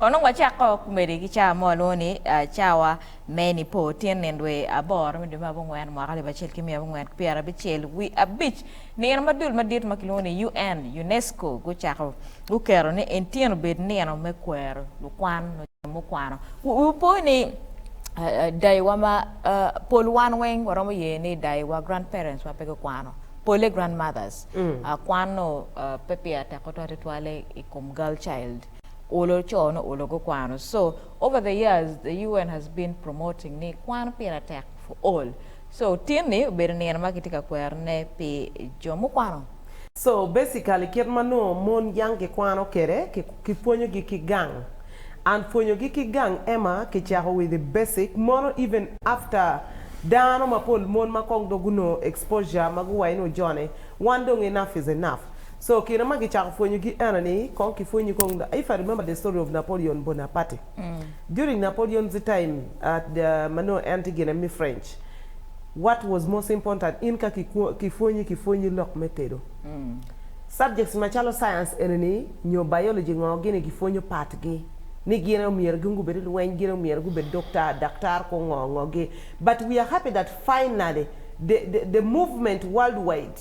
Onongo wacako kumedi ki cawa mo alwongo ni cawa me Nipo, tyen nino dwe aboro me dwe me abongwen mwaka alip acel ki miya abongwen ki pyera abicel wi abic. Nino ma dul madit ma kilwongo ni UN, UNESCO, gucako guketo ni en tyen obed nino me kwero lukwan nyo jo mukwano. Wupo ni dayiwa ma pol wan weng waromo ye ni dayiwa, grand parents, wa pe gukwano, pole grand mothers, kwan-nu pe pire tek tutwal tutwale i kom girl child. Olo co no olo go kwano so over the years the UN has been promoting ni kwano pire tek for all so tin ni obedo nino ma kitye ka kwero ne pi jo mukwano. So basically kit ma nongo mon yang gikwano kede ki pwonyo gi ki gang and pwonyo gi ki gang ema ki cako with the basic mono even after dano mapol mon ma kong dong gunongo exposure ma guwaco ni ojone wan dong enough is enough So kine ma gicako pwonyo gi ena ni kong ki pwonyi kong na if I remember the story of Napoleon Bonaparte during Napoleon's time at the ma nongo en tye gine me French what was most important in ka ki pwonyi ki pwonyi lok me tedo subjects ma calo science eni ni nyo biology ngo gini gi pwonyo part gi ni gine omyero gin gubed lweny gine omyero gubed doctor daktar ko ngo ngo gi but we are happy that finally the the the movement world wide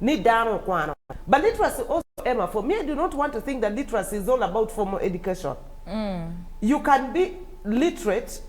ni dano okwano. But literacy also Emma for me I do not want to think that literacy is all about formal education. You can be literate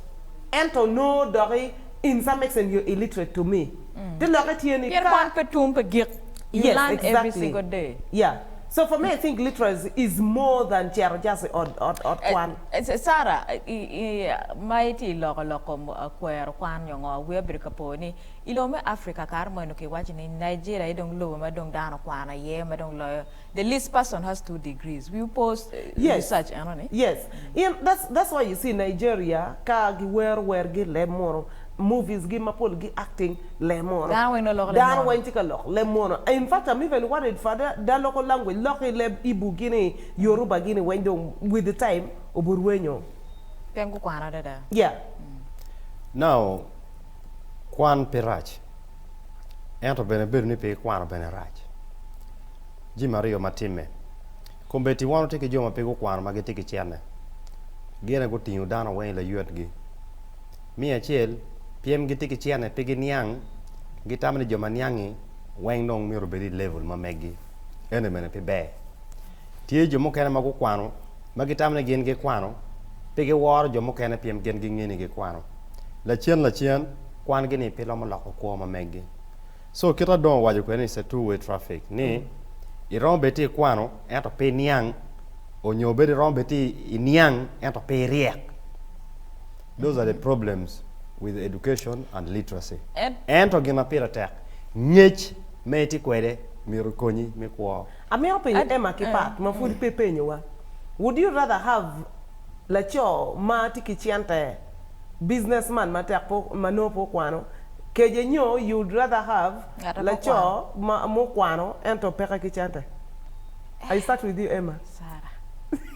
ento onongo dok i in some extent you're illiterate to me te lokke tye ni Pien ka kwan pe tum pe gik. You Yes learn every exactly single day. yeah so for me I think literacy is more than cito just i ot ot ot kwan. Sarah, i i ma itye loko loko kwero kwan nyo ngo, wi abedo ka po ni. I lobo me Africa kare mono ki waco ni Nigeria aye dong lobo ma dong dano kwano aye ma dong loyo the least person has two degrees we oppose research eno ni. Yes in that's that's why you see Nigeria ka gi wero wer gi leb mono movies gi mapol gi acting leb mono Dano weng dong loko leb dano mono. weng tye ka lok leb mono in fact I'm even worried for the the local language lok ki leb Igbo gi ni Yoruba gi ni weng dong with the time oburwenyo. Pien gukwano adada. Yeah. Now Kwan pe rac, ento bene bedo ni pe ikwano bene rac. Jami aryo ma timme. Kombeddi wan watye ki jo ma pe gukwano ma gitye ki cente. Gine gutingo dano weng i laywetgi. Me acel, pyem gitye ki cente pe giniang, gitamo ni jo ma niang-ngi weng dong myero obed i level ma megi. Eno bene pe ber. Tye jo mukene ma gukwano. ma gitamo ni gin gikwano, pe giworo jo mukene pien gin gingeyo ni gikwano. Lacen lacen, kwan-gi-ni pe romo loko kwo ma megi. Co kita dong owaco kwede ni se two-way traffic ni, Iromo bedo tye ikwano ento pe iniang, onyo bed iromo bedo tye iniang ento pe iryek. Those are the problems with education and literacy. Ento gin ma pire tek, ngec ma itye kwede myero okonyi me kwo. Amito penyo Emma ki Pat ma pwod pe penyowa, Would you rather have laco ma tye ki cente, business man ma tek pe ma nongo pe okwano, kece nyo you would rather have laco ma okwano ento peke ki cente? I start with you Emma. Sarah.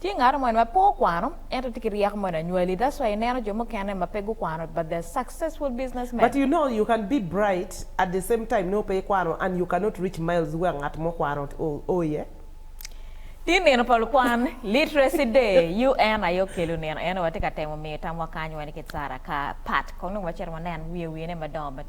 Tye ngat mo en ma pe okwano ento tye ki ryeko mo en anywali that's why ineno jo mukene ma pe gukwano but they're successful business men. But you know you can be bright at the same time nongo pe ikwano and you cannot reach miles wek ngat mo okwano o iye. Tye nino pa lukwan, Literacy Day, UN aye okelo nino eno watye ka temo miyo tamwa kany weny ki Sara ka pat kong nongo wacito wanen wiye wiye ne madongo ma